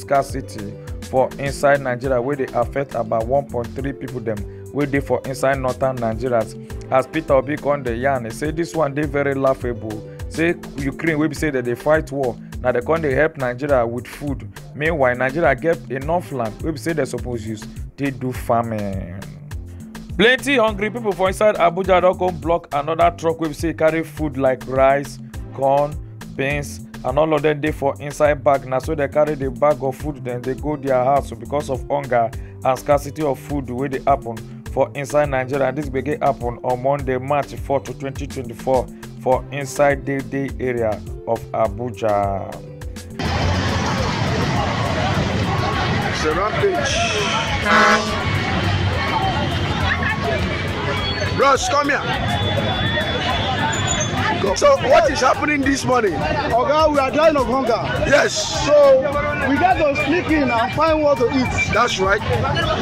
scarcity for inside nigeria wey dey affect about 1.3 people dem wey dey for inside northern nigeria as peter obi come dey yarn e say dis one dey very laughable say ukraine wey be say dem dey fight war na dem come dey help nigeria with food meanwhile nigeria get enough land wey be say dem suppose use take do farming. plenty hungry people for inside abuja don come block another truck wey be say e carry food like rice corn beans and all of them dey for inside bag na so they carry the bag of food dem dey go their house because of hunger and scarcity of food wey dey happen for inside nigeria and this gbege happen on monday march 4 to 2024 for inside the day area of abuja. It's a rampage. Bros, come here. So what is happening this morning? Oga, we are dying of hunger. Yes. So we got to sneak in and find what to eat. That's right.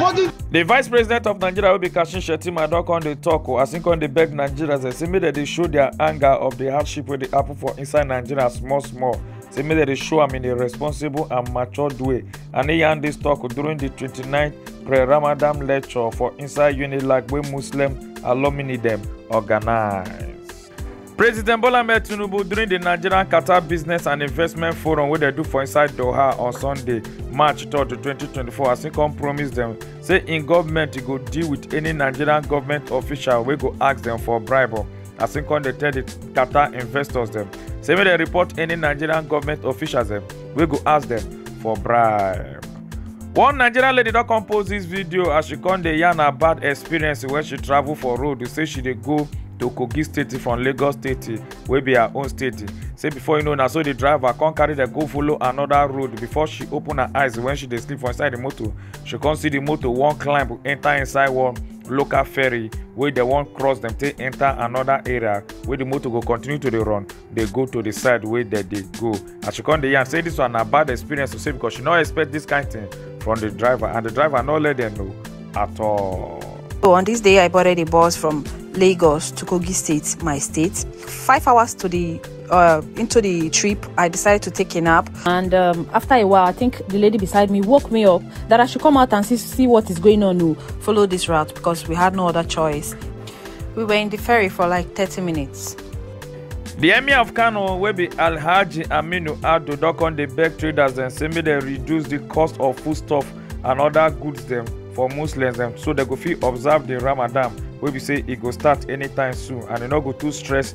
What is The vice president of Nigeria will be Kashim Shettima don come dey talk o as im come dey beg Nigerians say make dem dey show their anger of the hardship wey dey happen for inside Nigeria small small say make dem dey show am in a responsible and matured way and he yarn dis tok during di 29th pre-ramadan lecture for inside unilag wey muslim alumni dem organise. president bola ahmed tinubu during di nigerian qatar business and investment forum wey dem do for inside doha on sunday march 3 2024 as im come promise dem say im goment go deal with any nigerian goment official wey go ask dem for bribe. as im come dey tell di qatar investors dem say make dem report any nigerian government officials dem wey go ask dem for bribe. one nigerian lady don come post dis video as she come dey yarn her bad experience wen she travel for road say she dey go to kogi state from lagos state wey be her own state say before you know na so di driver come carry dem go follow anoda road before she open her eyes wen she dey sleep for inside di motor she come see di motor wan climb enta inside one local ferry wey dem wan cross dem take enter another area wey the motor go continue to dey run dey go to the side wey dem dey go as she come dey yarn say this one na bad experience to say because she no expect this kind thing from the driver and the driver no let them know at all. So on this day, I boarded a bus from Lagos to Kogi State, my state. Five hours to the uh, into the trip, I decided to take a nap. And um, after a while, I think the lady beside me woke me up that I should come out and see, see what is going on. Oh. Follow this route because we had no other choice. We were in the ferry for like 30 minutes. The emir of Kano, wey be Alhaji Aminu Ado, don come dey beg traders dem say make dem reduce the cost of foodstuff and other goods dem for Muslims dem so dem go fit observe the Ramadan wey be say e go start anytime soon and e no go too stress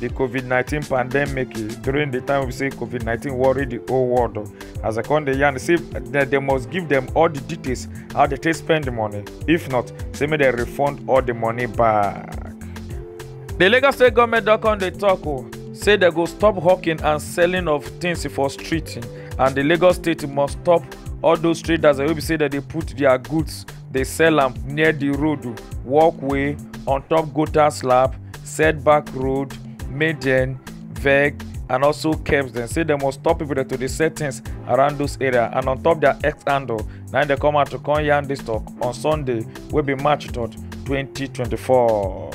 di covid nineteen pandemic during di time we say covid nineteen worry di whole world as i come dey yarn say dem must give dem all di details how dem take spend di money if not say make dem refund all di money back di lagos state goment don come dey tok o say dem go stop hawking and selling of things for street and di lagos state must stop all those traders wey be say dem dey put dia goods dey sell am near the road walkway on top gutter slab setback road maiden veg and also keps dem say dem must stop people dem to dey sell things around those area and on top their x handle na im dem come out to come yarn this talk on sunday wey be march 3rd 2024.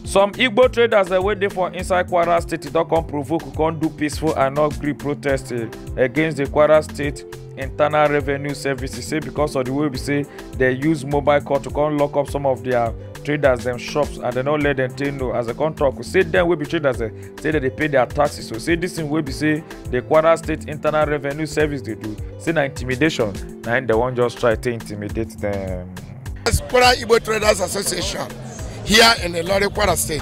some igbo traders dem wey dey for inside kwara state don come provoke come do peaceful and not gree protest eh, against the kwara state internal revenue services say because of the way we say they use mobile call to come lock up some of their traders them shops and they no let them take no as a contract say them will be traders eh, say that they pay their taxes so say this thing will be say the kwara state internal revenue service they do say na intimidation na they wan just try to intimidate them. kwara igbo traders association here in the lorry kwara state.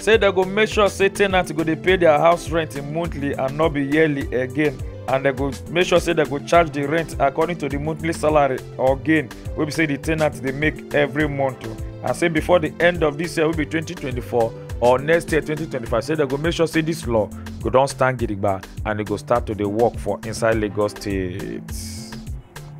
say dem go make sure say tenants go dey pay their house rent monthly and not be yearly again and dem go make sure say dem go charge the rent according to the monthly salary or gain wey be say the tenant dey make every month o and say before the end of this year wey be 2024 or next year 2025 say dem go make sure say this law go don stand gidigba and e go start to dey work for inside lagos state.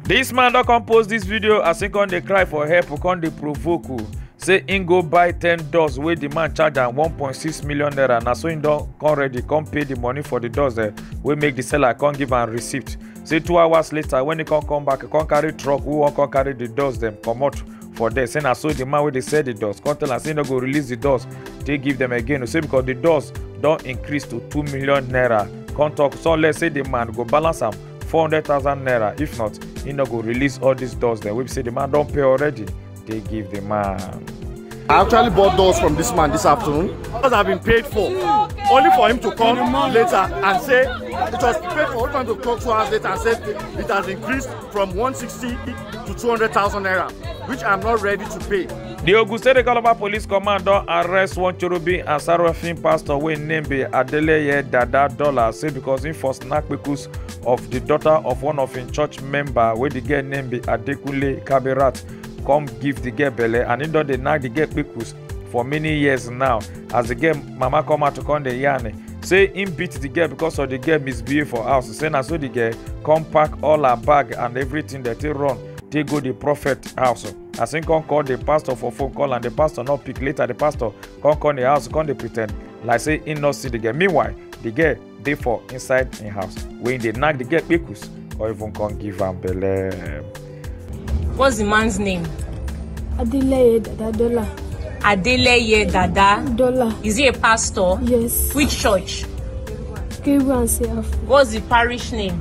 This man don come post this video as he come dey cry for help o come dey provoke o say he go buy ten doors wey the man charge am one point six million naira na so he don come ready come pay the money for the doors eh, wey make the seller come give am receipt say two hours later when he come come back he come carry truck wey wan come carry the doors dem comot for there say na so the man wey dey sell the doors come tell am say he no go release the doors take give them again o say because the doors don increase to two million naira come talk so let's say the man go balance am 400000 naira if not he no go release all these doors dem wey be say the man don pay already dey give the man. I actually bought those from this man this afternoon. Because I've been paid for. Only for him to come later and say it was paid for only for him to come two hours later and say it has increased from 160 to 200,000 naira, which I'm not ready to pay. di ogun state calabar police command don arrest one chorobi and sarafin pastor wey im name be adeleye dada dollar say because im for snap pictures of di daughter of one of im church member wey di girl name be adekunle kabirat come give di girl belle and im don dey knack di girl pictures for many years now as di girl mama come out to come dey yarn say im beat di girl because of di girl misbehave for house say na so di girl come pack all her bag and everything dem take run take go di prophet house. as him come call the pastor for phone call and the pastor no pick later the pastor come come the house come dey pretend like say him no see the girl meanwhile the girl dey for inside him house wey him dey knack the girl kpekus or even come give am belle. What's the man's name? Adeleye Dadadola. Adeleye Dada. Dollar. Is he a pastor? Yes. Which church? Gabriel and Seraph. What's the parish name?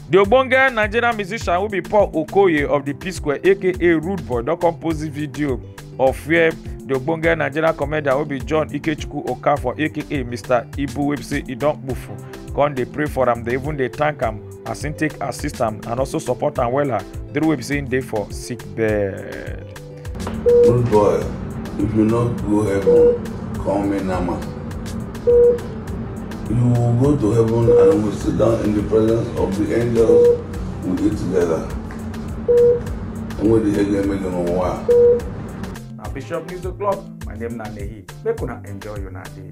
di ogbonge nigerian musician wey be paul okoye of di p-square aka rude boy don come post di video of where di ogbonge nigerian comedian wey be john ikechukwu okafor aka mr ibu wey be say e don kpufu come dey pray for am dey even dey thank am as im take assist am and also support am wella during wey be say im dey for sick bed. Good boy, if you not go heaven, call me Nama. You will go to heaven and will sit down in the presence of the angels we eat together. And with the again make them one. Now Bishop News O'Clock, my name na Nehi. Make una enjoy your day.